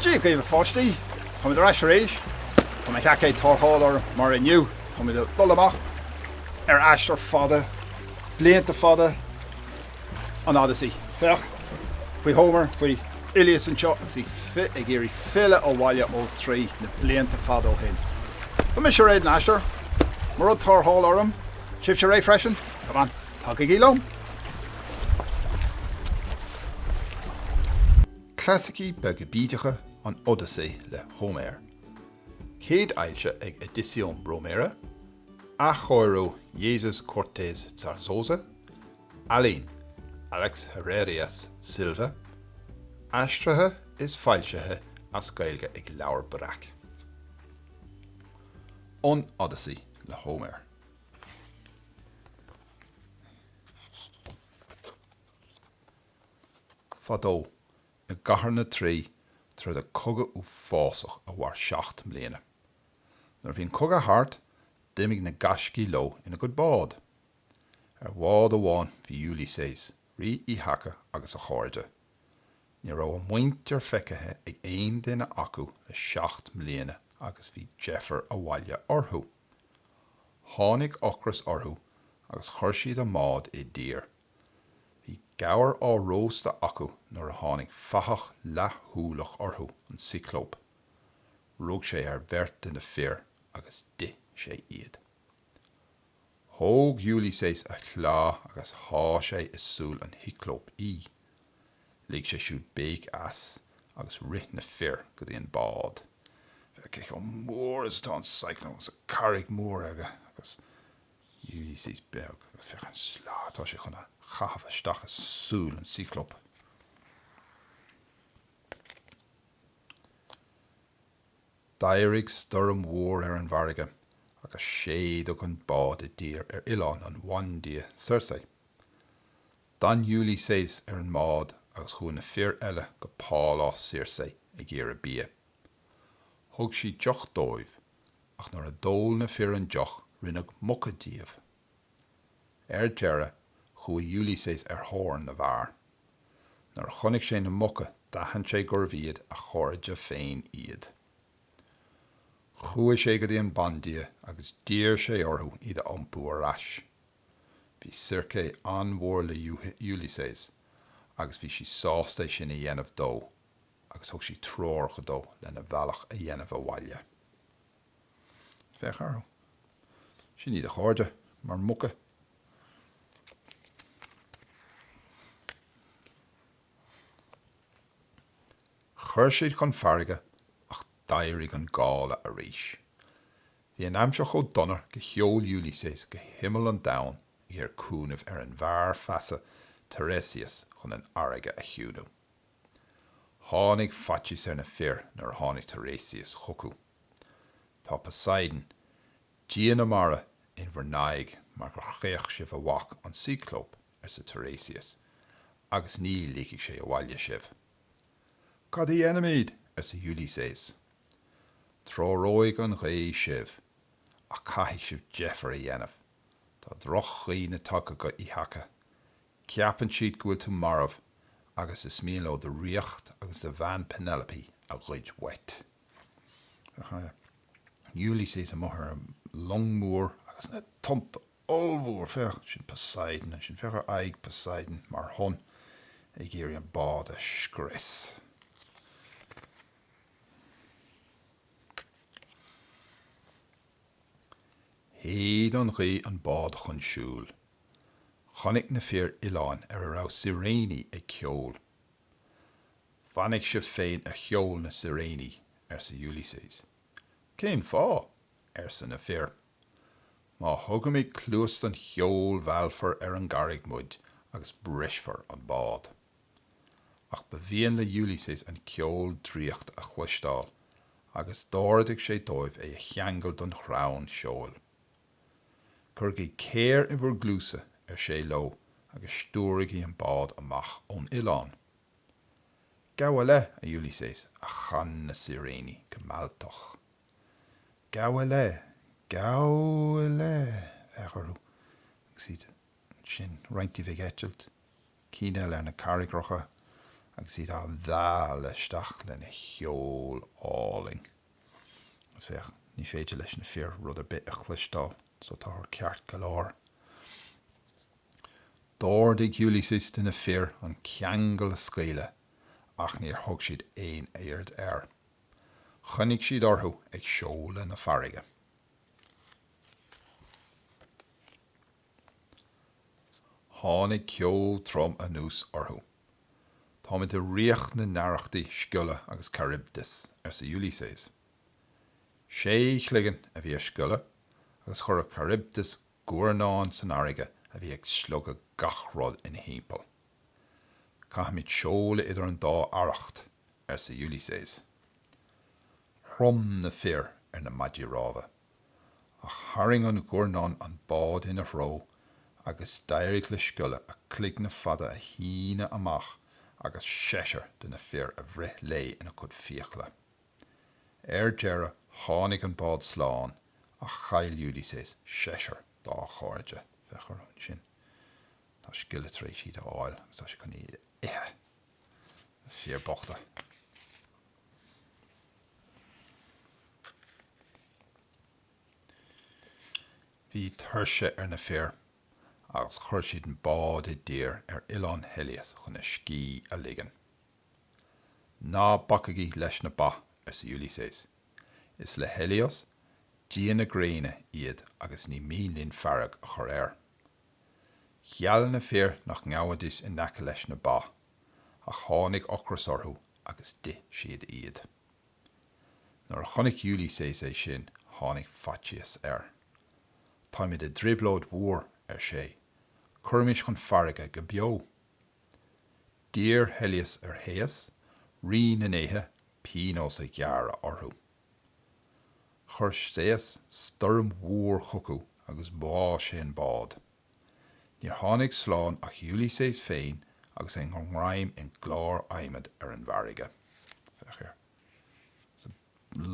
Dia dhaoibh a pháistí! Táimid ar ais arís. Tá mo sheaicéad tarrthála orm mar inniu. Táimid ag dul amach ar aistear fada, blianta fada. an Odaisé. Féach faoi Homer, faoi Uiliséas anseo agus é ag iarraidh filleadh abhaile ó Thraí na blianta fada ó shin. Tá mise réidh don aistear. Mo rud tarrthála orm. Sibhse réidh freisin? Come on, tagaigí liom! Clasaicí beaga bídeacha an Odaisé le Hóiméar. Céadfhoilsithe ag Edicions Bromera, athchóiriú Jesús Cortés Zarzosa Ealaín, Alex Herrerias Silva, aistrithe is foilsithe as Gaeilge ag Leabhar Breac. An Odaisé le Hóiméar. Fadó i gCathair na Traí tharla cogadh uafásach a mhair seacht mbliana. Nuair a bhí an cogadh thart, d'imigh na gaiscígh leo ina gcuid bád. Ar bhád amháin bhí Uiliséas, rí Ithaca agus a chairde. Ní raibh a muintir feicthe ag aon duine acu le seacht mbliana agus bhí deifir abhaile orthu. Tháinig ocras orthu agus chuir siad a mbád i dtír. Bhí gabhar á róstadh acu nuair a tháinig fathach leathshúileach orthu, an Cioclóp. Rug sé ar bheirt de na fir agus d'ith sé iad. Thóg Uiliséas a shleá agus shá sé i súil an Chioclóp í. Lig sé siúd béic as agus rith na fir go dtí an bád. Féach cé chomh mór is atá an Cioclóp agus an carraig mhór aige agus Uiliséas beag agus féach an sleá atá sé chun a chaitheamh isteach i súil an Chioclóp. D'éirigh stoirm mhór ar an bhfarraige agus séideadh an bád i dtír ar oileán an bhandia Circe. D'fhan Uiliséas ar an mbád agus chuaigh na fir eile go pálás Circe ag iarraidh bia. Thug sí deoch dóibh ach nuair a d'ól na fir an deoch rinneadh muca díobh. Ar deireadh chuaigh Ulysses ar thóir na bhfear. Nuair a chonaic sé na muca d'aithin sé gurbh iad a chairde féin iad. Chuaigh sé go dtí an bandia agus d'iarr sé orthu iad a iompú ar ais. Bhí Circe an-mhór le Ulysses agus bhí sí sásta sin a dhéanamh dó agus thug sí treoracha dó lena bhealach a dhéanamh abhaile. Féach orthu. Sin iad a chairde, mar mhuca. Chuir siad chun farraige ach d'éirigh an gála arís. Bhí an aimsir chomh dona go sheol Ulysses go himeall an domhain ag iarraidh cúnaimh ar an bhfear feasa Tiresias chun an fharraige a chiúnú. Tháinig faitíos ar na fir nuair a tháinig Tiresias chucu. Tá Poseidon, dia na mara, in bhur n-aghaidh mar gur chaoch sibh a mhac, an Cyclope, arsa Tiresias, agus ní ligfidh sé abhaile sibh. Cad a dhéanfaimid? arsa Ulysses. Treoróidh an ghaoth sibh, ach caithfidh sibh deifir a dhéanamh. Tá drochdhaoine tagtha go Ithaca, Ceapann siad go bhfuil tú marbh agus is mian leo do ríocht agus do bhean Penelope a ghoid uait. Ulysses amuigh ar long mór agus na tonnta ollmhór, féach, sin Poseidon ansin, féach ar aghaidh Poseidon mar thonn ag iarraidh an bád a scrios. Shéid an ghaoth an bád chun siúil. Chonaic na fir oileán ar a raibh siréiní ag ceol. Fainic sibh féin ar cheol na siréiní, arsa Ulysses. Cén fáth? arsa na fir. Má thugaimid cluas don cheol mheallfar ar an gcarraig muid agus brisfear an bád. Ach ba mhian le Ulysses an ceol draíochta a chloisteáil agus d'ordaigh sé dóibh é a cheangal don chrann seoil. Cuirigí céir i bhur gcluasa, ar sé leo, agus stiúraigí an bád amach ón oileán. Gabh i leith, a Ulysses, a chan na Siréiní go mealltach. Gabh i leith, gabh i leith, féach orthu, agus iad ansin, roinnt díobh ag eitilt, cinn eile ar na carraigreacha, agus iad á mhealladh isteach lena cheol álainn. Agus féach, ní féidir leis na fir rud ar bith a chloisteáil, so táthar ceart go leor. D'ordaigh Ulysses de na fir an ceangal a scaoileadh ach níor thug siad aon aird air. Choinnigh siad orthu ag seoladh na farraige. Tháinig ceo trom anuas orthu. Táimid i ríocht na n-arrachtaí Sciolla agus Charybdis, arsa Ulysses. Sé chloigeann a bhí ar Sciolla agus chuir Charybdis guairneán san fharraige a bhí ag slogadh gach rud ina thimpeall. Caithfimid seoladh idir an dá arracht, arsa Ulysses. Chrom na fir ar na maidí rámha. Ach tharraing an guairneán an bád ina threo agus d'éirigh le Sciolla a cloigne fada a shíneadh amach agus seisear de na fir a bhreith léi ina cuid fiacla. Ar deireadh tháinig an bád slán ach chaill Ulysses seisear dá chairde. Féach orthu ansin. Tá Sciolla tar éis iad a fháil agus tá sé chun iad a ithe. Na fir bochta. Bhí tuirse ar na fir agus chuir siad an bád i dtír ar Oileán Helios chun a scíth a ligean. Ná bacaigí leis na ba, arsa Ulysses. Is le Helios, dia na gréine, iad agus ní mian linn fearg a chur air. Gheall na fir nach ngabhaidís in aice leis na ba ach tháinig ocras orthu agus d'ith siad iad. Nuair a chonaic Ulysses é sin, tháinig faitíos air. Táimid i dtrioblóid mhór, ar sé, cuirimis chun farraige go beo. D'iarr Helios ar Shéas, rí na ndéithe, pionós a ghearradh orthu. Chuir Séas stoirm mhór chucu agus bháigh sé an bád. Níor tháinig slán ach Ulysses féin agus é i ngreim i gclár adhmaid ar an bhfarraige. Féach air. Is an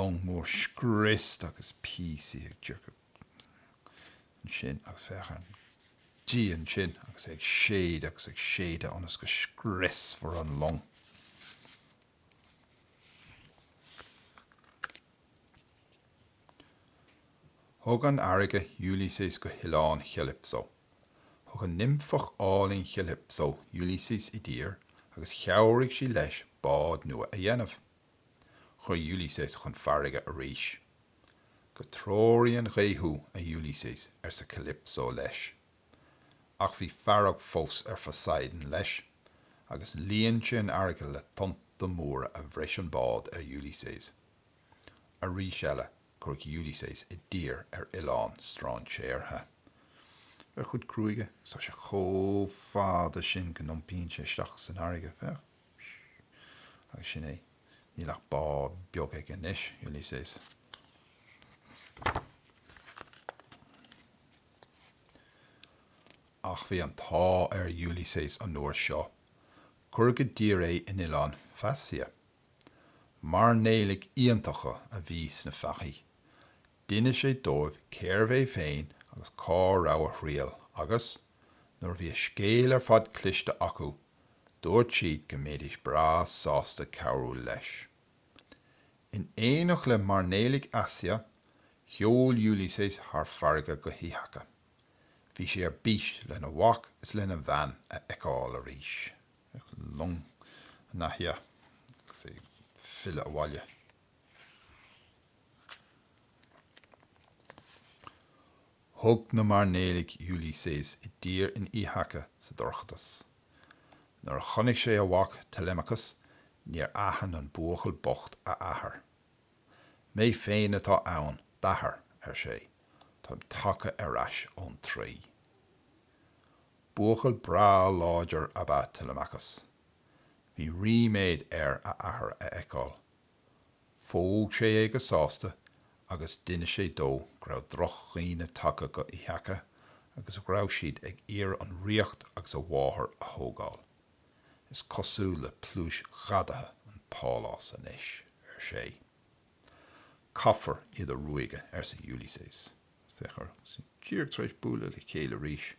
long mór scriosta agus píosaí ag tiocfaidh ansin agus féach an dia ansin agus é ag séideadh agus ag séideadh ionas go scriosfar an long. Thug an fharraige Ulysses go hoileán Chalypso. Thug an nimfeach álainn Calypso Ulysses i dtír agus chabhraigh sí leis bád nua a dhéanamh. Chuir Ulysses chun farraige arís. Go dtreoraí an ghaoth thú, a Ulysses, arsa Calypso leis. Ach bhí fearg fós ar Phoseidon leis, agus líon sé an fharraige le tonnta móra a bhris an bád ar Ulysses. Arís eile, cuireadh Ulysses i dtír ar oileán strainséartha. Féach ar a chuid gruaige, agus tá sé chomh fada sin go n-iompaíonn sé isteach san fharraige, féach, siú, agus sin é. Níl ach bád beag aige anois, Ulysses. Ach bhí an t-ádh ar Ulysses an uair seo. Cuireadh i dtír é in oileán Phaeacia, Mairnéalaigh iontacha a bhí sna Phaeacaigh. D'inis sé dóibh cérbh é féin agus cá raibh a thriall agus, nuair a bhí a scéal ar fad cloiste acu, dúirt siad go mbeidís breá sásta cabhrú leis. In éineacht le mairnéalaigh Phaeacia, sheol Ulysses thar farraige go hÍthaca. Bhí sé ar bís lena mhac is lena bhean a fheiceáil arís. Bhí long ina haice agus é ag filleadh abhaile. Thug na mairnéalaigh Ulysses i dtír in Ithaca sa dorchadas. Nuair a chonaic sé a mhac Telemachus níor aithin an buachaill bocht a athair. Mé féin atá ann, d'athair, ar sé, táim tagtha ar ais ón Traoi. Buachaill breá láidir ab ea Telemachus. Bhí ríméad air a athair a fheiceáil. Phóg sé é go sásta agus d'inis sé dó go raibh drochdhaoine tagtha go Ithaca agus go raibh siad ag iarraidh an ríocht agus a mháthair a thógáil. Is cosúil le pluais ghadaithe an pálás anois, ar sé. Caithfear iad a ruaigeadh, arsa Ulysses. Féach orthu díreach tar éis bualadh le chéile arís.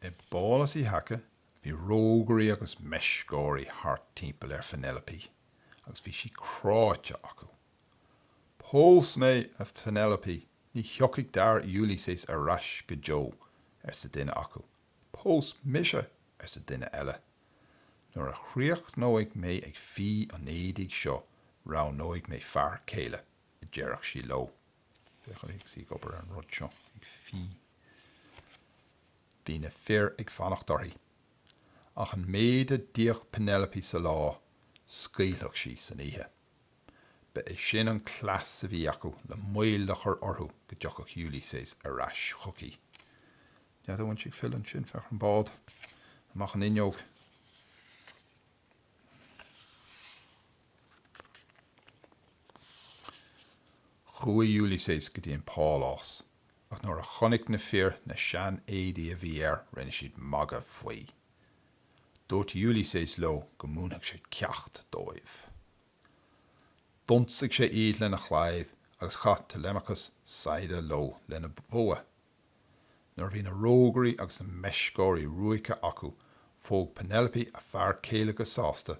I bpálás Ithaca bhí rógairí agus meisceoirí thart timpeall ar Phenelope agus bhí sí cráite acu. Pós mé a Phenelope, ní thiocfaidh d'fhear Ulysses ar ais go deo, arsa duine acu. Pós mise, arsa duine eile. Nuair a chríochnóidh mé ag fí an éadaigh seo roghnóidh mé fear céile, a deireadh sí leo. Féach uirthi agus í ag obair ar an rud seo, ag fí. Bhí na fir ag fanacht uirthi. Ach an méid a d'fhíodh Penelope sa lá, scaoileadh sí san oíche. Ba é sin an cleas a bhí aici le moill a chur orthu go dtiocfadh Ulysses ar ais chuici. Nuair a bhí siad ag filleadh ansin féach ar an mbád, amach an fhuinneog. Chuaigh Ulysses go dtí an pálás ach nuair a chonaic na fir na sean éadaí a bhí air rinne siad magadh faoi. Dúirt Ulysses leo go múinfeadh sé ceacht dóibh. D'ionsaigh sé iad lena chlaíomh agus chaith Telemachus saigheada leo lena bhogha. Nuair a bhí na rógairí agus na meisceoirí ruaigthe acu phóg Penelope a fear céile go sásta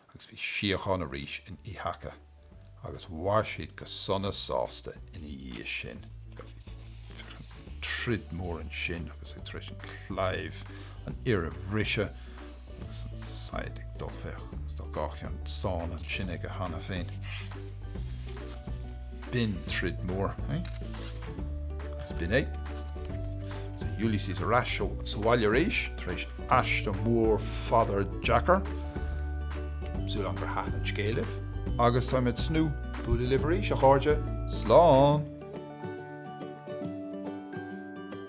agus bhí síocháin arís in Ithaca agus mhair siad go sona sásta ina dhiaidh sin. Troid mór ansin agus é tar éis an claíomh an fhir a bhriseadh Saighead ag dul féach trí gach ceann stáin ansin aige cheana féin. B'in troid mór é. Is b'in é. So Ulysses ar ais sa bhaile arís tar éis aistear mór fada deacair. Súil agam gur thaitn an scéal libh. Agus táimid ag tnúth bualadh libh arís, a chairde. Slán!